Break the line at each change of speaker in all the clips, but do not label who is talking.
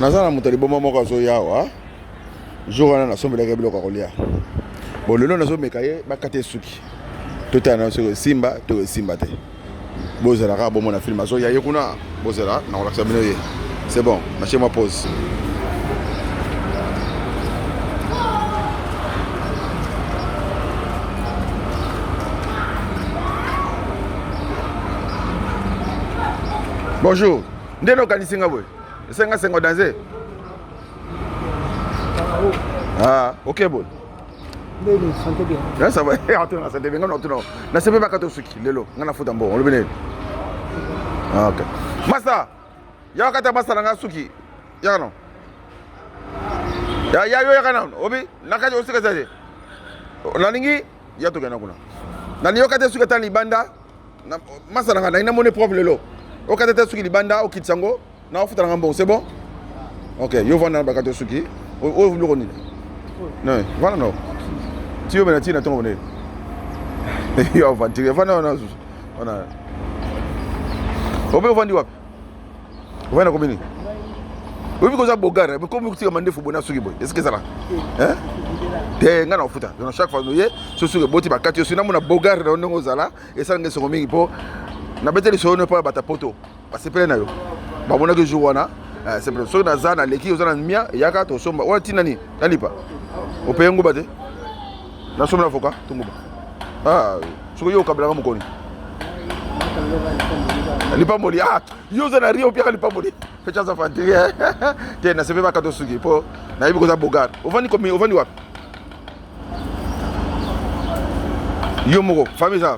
naza na moto ya liboma moko azoya awa jour wana nasombelaki ye biloko ya kolia bon lelo nazomeka ye bakata ye suki totala na soki esimba to esimba te bozala kaka bomona filme azoya ye kuna bozala nakolakisa bino ye c'est bon natie mwa pose bonjour nde nokanisi nga boye Senga sengo danze. Ah, ok bon. Lelo
santé bien. Ya ça va. Eh, on tourne
santé bien. Non, non. Na sebe ba kato suki lelo. Ngana futa mbo. On le bene. Ah, ok. Masa. Ya kata masa na suki. Ya non. Ya ya yo ya kana. Obi, na kaje osika zaje. Nalingi ya tokenda kuna. Na liyo kata suki tani banda. masala nga ngai namoni propre lelo okata te suki libanda okitisa yango na ofuta nanga mbongo c'est bon ok yo vanda na bakati osuki oyo biloko nini vanda nao tiyo mena tii na ntongo bone yo avantire vanda wana wana obe ovandi wapi ovandi na komini oyebi koza bogare komi kotika mandefu boye na suki boye esike ezala te ngai na kofuta na chaque fois oye so suki eboti bakati osi namona bogare na yo ndenge ozala esala ngai esongo mingi mpo nabete lisolo no epai ya bata poto basepele na yo bamonaki jour wana eh, sepele soki naza naleki oza na mia eyaka tosomba wana ntina nini nalipa opeye nguba te Na somme l'avocat, tongoba. Ah, soki yo okabelaka mokoni. lipamboli ah yo oza na rio opiaka lipamboli fecha aza fanti eh. te nasepe bakato suki mpo nayebi koza bogar ovandi komi ovandi wapi yo moko famille eza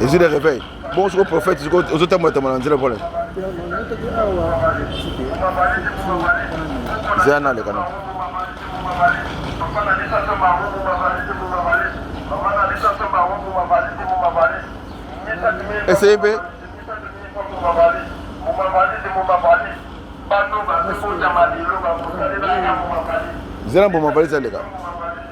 ezwi de réveil bongo soko prophète soko ozotambola tambola na nzela pole zeya naleka na eseye mpe zela mbuma valise aleka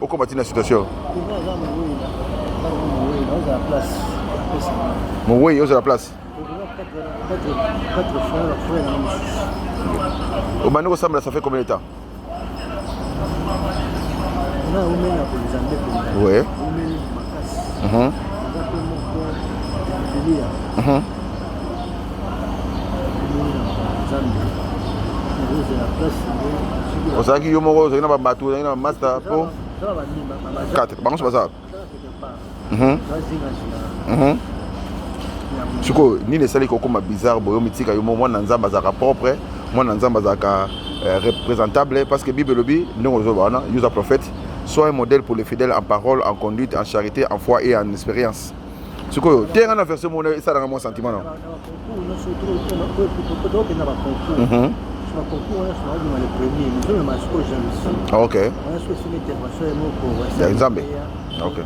okoma ti na situation mowei ozala place obandi kosambela ça fait combien de temps ouais. mm -hmm. Mm -hmm. ozalaki yo moko ozalaki na babato ozalaki na bamasta mpo 4 bango nyonso bazalaka mhm. mhm. sikoyo nini esali kokoma bizarre boyo mitika yo moko mwana nzambe azalaka propre mwana nzambe azalaka euh, représentable parce que bible elobi ndenge ozoloba wana yo oza prophète soit un modèle pour les fidèles en parole en conduite en charité en foi et en expérience sikoyo te nga na verse mona esalaka mwa sentiment na ok ya nzambe ok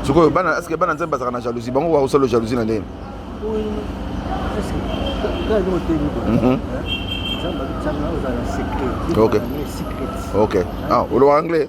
sikoyo bana eske bana nzambe bazalaka na jalousie bango bakosala jalousie na ndenge ok ok ah oloba anglais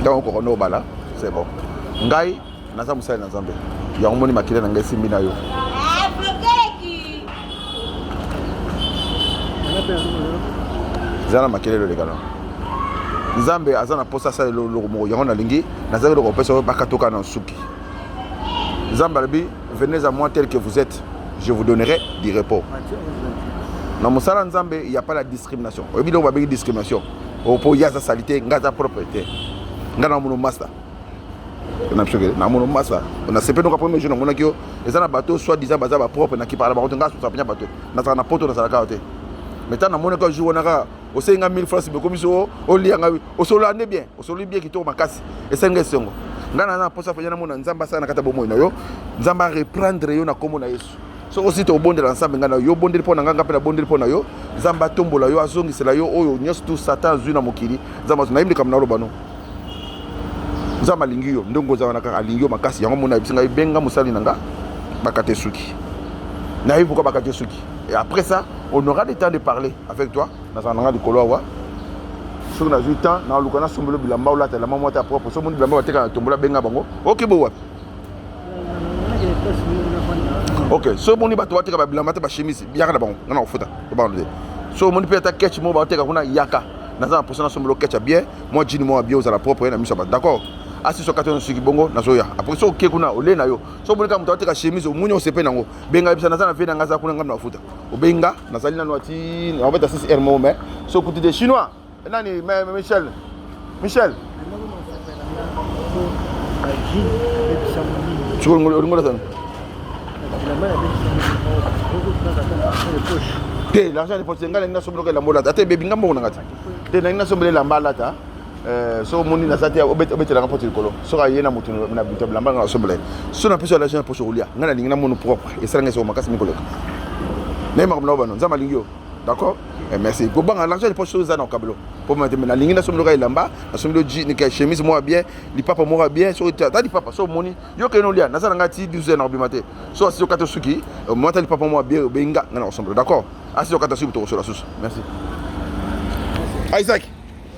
ntango okoka nde obala c'est bon ngai naza mosali na nzambe yango moni makila na ngai esimbi na yo eza na makelelo elekana nzambe aza na mposa asalela eloko moko yango nalingi nazali eloko kopesa yo bakatoka na nsuki nzambe alobi Venez à moi tel que vous êtes, je vous donnerai du repos. Na mosala Nzambe, il n'y a pas la discrimination. Oyebi donc babengi discrimination. Opo yaza salite, ngaza propriété. Nga na mono masta. Na biso na mono masta. Na sepe donc premier jour na mona kio, eza na bateau soit disant baza ba propre na ki parle ba koto ngaso sapenya bateau. Na sala na poto na sala kaote. Mais tant na mona ko jour na ka osengi nga 1000 francs bokomi so olia nga osolola nde bien osololi bien kitoko makasi esengi nga esengo ngai naza na mposa mpenza namona nzambe asala na kati ya bomoi na yo nzambe areprendre yo na nkombo na yesu soki osita obondela na nzambe ngai na yo obondeli mpo na ngai ngai mpe nabondeli mpo na yo nzambe atombola yo azongisela yo oyo nyonso tu satan azwi na mokili nzambe azwi nayebi likambo naloba no nzambe alingi yo ndenge ozala na kaka alingi yo makasi yango mona ayebisi ngai benga mosali na ngai bakate suki nayebi pourkua bakate suki et après ça on aura le temps de parler avec toi nazala nanga likolo awa soki nazwi temps naluka nasombelo bilamba olata elamba mwa ta propre so moni bilamba bateka na tombola benga bango oke bo wapi ok so omoni bato bateka babilamba te bachemisi yaka na bango nga na kofuta obano te so omoni mpe ata ketch moko bateka kuna yaka naza na mposa nasombelo ketch ya bien mwa jini moko ya bien ozala propre ye na miso ya bato d'accord asi so kati soki bongo nazoya apres so oke kuna ole na yo so omoni kaka moto ateka chemise omoni osepe nango benga yebisa naza na vie na nga aza kuna ngai na bafuta obeyi nga nazali nano ati naobeta 6 heure moko mais sokuti de chinois nani michel michel olingola sani te l'argent de poche ngai nalingi nasombela oka elamba olata ata ebebi ngai mbongo na ngai te te nalingi nasombela elamba alata Euh, soki omoni naza te obetelanga mpo likolo soki aye na moto na buta bilamba nga nasombela ye soki napesi yo alation ya poso kolia ngai nalingi na mono propre esalanga esoko makasi mingi koleka naye makambo nao bano nzambe alingi yo d'accord eh, merci kobanga l'argent liposo soki eza na okabelo mpo mate nalingi nasombeloka elamba nasombelo chemise moko ya bien lipapa moko ya bien soki ata lipapa soki omoni yo kende olia naza na ngai ti 12 heures na kobima te soki asi okata suki omoni ata lipapa moko ya bien obengi nga ngai na kosombelo d'accord asi okata suki tokosola susu merci ah, isaac